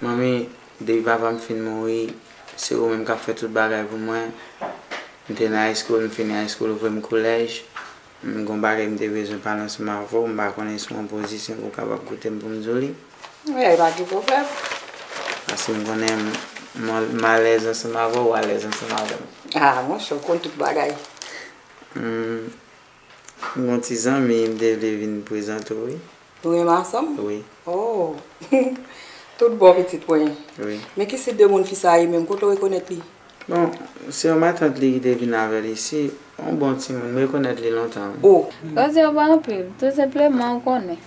Manmi, depi papa m fin mouri, se ou menm k ap fè tout bagay pou mwen. M te nan high school, m fini high school, ou voye m kolèj. M gon bagay m te bezwen pale ansanm avè w, m pa konnen si w an pozisyon pou w kapab koute m pou m di w li? Wi, pa gen pwoblèm. Paske m konnen m alèz ansanm avè w, w alèz ansanm avè m. A, monchè, w konn tout bagay. M gon ti zanmi m te vle vin prezante w wi. Nou renmen ansanm? Wi. Oh! Tout bon pitit mwen. Wi. Men ki si de moun fi sa a ye menm? Kote w rekonèt li? Bon, se yon matant li ki te vin avè l isi. Yon bon timoun. M rekonèt li lontan wi. Oh! Koze yo pa anpil. Tou senpleman, ou konnen.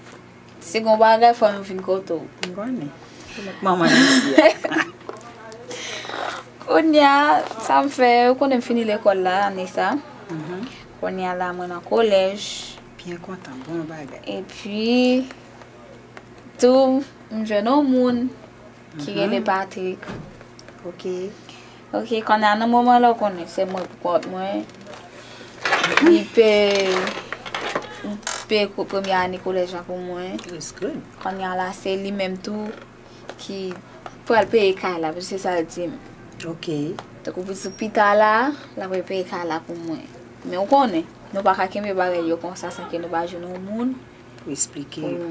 Si gen yon bagay fò m vin kote w. M konnen. Ou met manman nan isi a. Kounye a, sa m fè, ou konnen m fini lekòl la ane sa a. Kounye a la mwen nan kolèj. Byen kontan bon bagay. Epi tou m jwenn yon moun ki rele Patrick. Ok. Ok kounye a nan moman la ou konnen se mwen pou kont mwen. Li pe li pe premye ane kolèj la pou mwen. Kounye a la se li menm tou. ki pral peye kay la, se sa l di m. Ok. Tankou pou di pita la, l ap repeye kay la pou mwen. Men ou konnen, nou pa ka kenbe bagay yo konsa san ke nou pa jwenn yon moun pou esplike yo.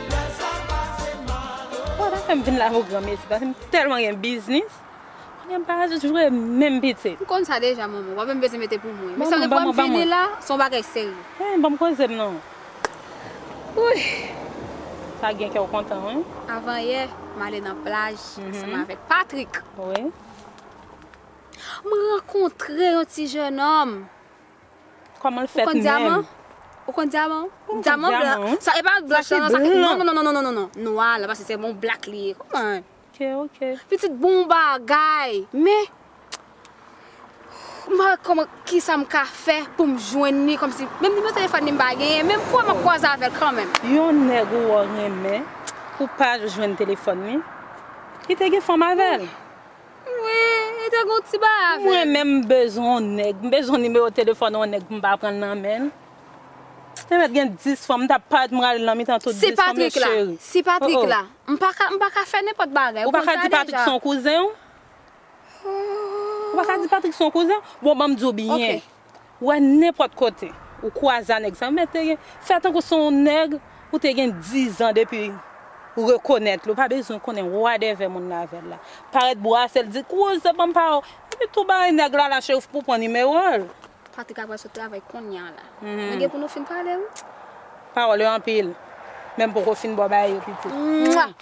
Wap pa fèm vin la avèw gran mesi paske m tèlman gen biznis kounye m pa jwe menm pitit. M konn sa deja manman, wap menm bezwen mete pou mwen. Banm banm banm banm mwen. Son bagay serye. Hein banm kozem non. Wouyy sa gen kèw kontan wi. Avan yè m ale nan plaj ansanm avèk Patrick. Wi. M rankontre yon ti jènòm. Koman l fèt menm? Ou konn dyaman ou? Dyaman blan. Sa e pa black lan non. Non non non non non. Nwa la paske se bon black li ye. Konprann? Ok ok. Pitit bon bagay. Men m pa wè koman kisa m ka fè pou m jwenn li kòmsi menm nimewo telefòn li m pa genyen men m kwè m ap kwaze avè l kanmenm. Yon nèg ou wè w renmen pou w pa jwenn telefòn li ki te gen fanm avè l. Mwen te gon ti baay avèl. Mwen menm m bezwen yon nèg. M bezwen nimewo telefòn yon nèg pou m pa pranl nan menl. Te mèt gen 10 fanm m tap paret m rale nan mitan tout 10 fanm yo cheri. Si Patrick la. M paka fè nenpòt bagay. Ou paka di Patrick son kouzen w? Ou paka di Patrick son kouzen w? Bon banm di w byen. wè nenpòt kote ou kwaze a nèg sa met te gen fè tankou se yon nèg ou te gen dizan depi ou rekonèt li ou pa bezwen konnen wadèvè moun nan avè l la parèt bwase l di kouze ban m pa ou epi tou bay nèg la lache ou pou pran nimewo l. Patrick ap pral sot travay konnya a la nou gen pou nou fin pale wi. Pawòl yo anpil men m poko fin baw bay yo pitit.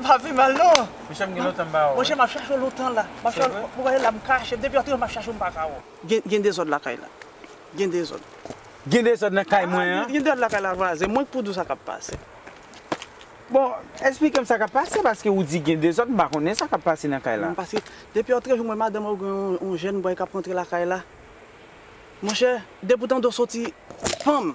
M pa pi mal non. Monchè m gen lontan m pa wè w. Monchè m ap chache w lontan la. M ap chache w. Ou wè la m kache. Depi w antre m ap chache w m pa ka wè w. Gen gen dezòd lakay la. Gen dezòd. Gen dezòd nan kay mwen an. Gen dezòd lakay la vwazen. Mwen k pou di w sa k ap pase. Bon, esplike m sa k ap pase paske ou di gen dezòd m pa konnen sa k ap pase nan kay la. Paske depi w antre jwenn mwen madanm ou gen yon jèn bòy k ap rantre lakay la. Monchè, depi w tande w soti panm.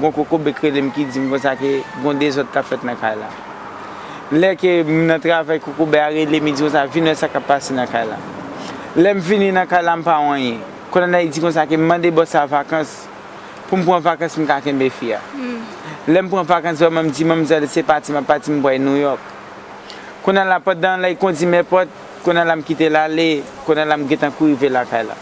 Gon kokobek rele m ki di m konsa ke gon dezòd k ap fèt nan kay la. Lè ke m nan travay kokobè a rele m li di konsa vin wè sa k ap pase nan kay la. Lè m vini nan kay la m pa wè anyen. Kolonèl di konsa ke m mande bòs la vakans pou m pran vakans m ka kenbe fi a. Lè m pran vakans vrèman m di manmzèl se pati m ap pati m pway Nouyòk. Kounye a la pandan lè y kondi m èpòt kounye a la m kite l ale kounye a la m gentan kou rive lakay la.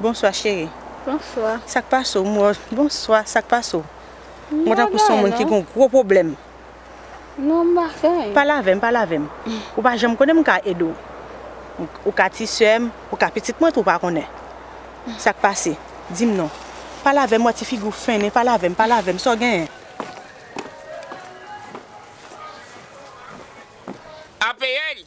Bonswa cheri. Bonswa. Sak pase w m wè w. Bonswa sak pase w. M wè w tankou son moun ki gon gwo pwoblèm. Non m pa fè anyen. Pale avè m pale avè m. Ou pa janm konnen m ka ede w. Ou ka ti sè m, ou ka pitit mwen tou w pa konnen. Sak pase? Di m non. Pale avè m m wè ti figi w fennen pale avè m pale avè m sa w genyen? Apl